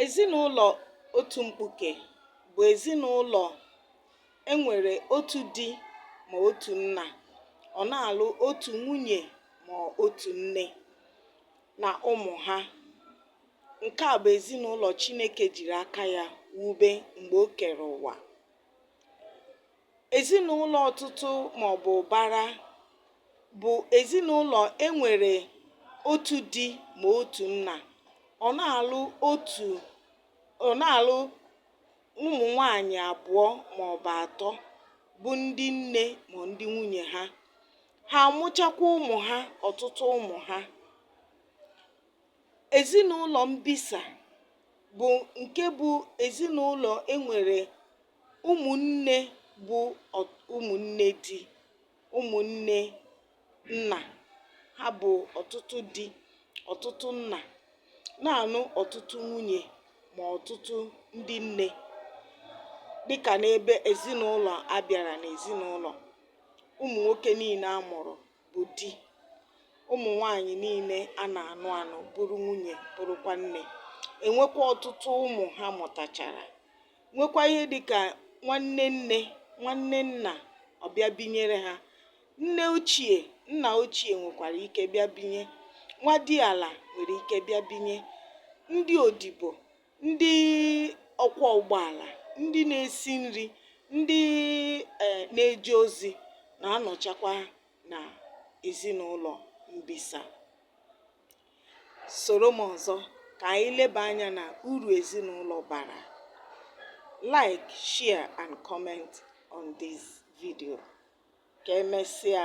Ezinụlọ otu mkpuke bụ ezinụlọ e nwere otu di ma otu nna, ọ na-alụ otu nwunye ma otu nne na ụmụ ha. Nke a bụ ezinụlọ Chineke jiri aka ya wube mgbe o kere ụwa. Ezinụlọ ọtụtụ ma ọ bụ ụbara bụ ezinụlọ e nwere otu di ma otu nna. Ọ na-alụ otu ọ na-alụ ụmụ nwaanyị abụọ ma ọ bụ atọ bụ ndị nne ma ndị nwunye ha. Ha amụchakwa ụmụ ha ọtụtụ ụmụ ha. Ezinụlọ mbisa bụ nke bụ ezinụlọ e nwere ụmụnne bụ ụmụnne di, ụmụnne nna, ha bụ ọtụtụ di, ọtụtụ nna, na-anụ ọtụtụ nwunye ma ọtụtụ ndị nne dịka n'ebe ezinụlọ a bịara n'ezinụlọ ụmụ nwoke niile a mụrụ bụ di, ụmụ nwaanyị niile a na-anụ anụ bụrụ nwunye bụrụkwa nne e nwekwa ọtụtụ ụmụ ha mụtachara nwekwa ihe dị ka nwanne nne nwanne nna ọbịa binyere ha nne ochie nna ochie nwekwara ike bịa binye nwa di ala nwere ike bịa binye ndị odibo ndị ọkwọ ụgbọala ndị na-esi nri ndị eh, na-eje ozi na-anọchakwa na ezinụlọ mbisa soro m ọzọ ka anyị leba anya na uru ezinụlọ bara like share and comment on this video ka emesịa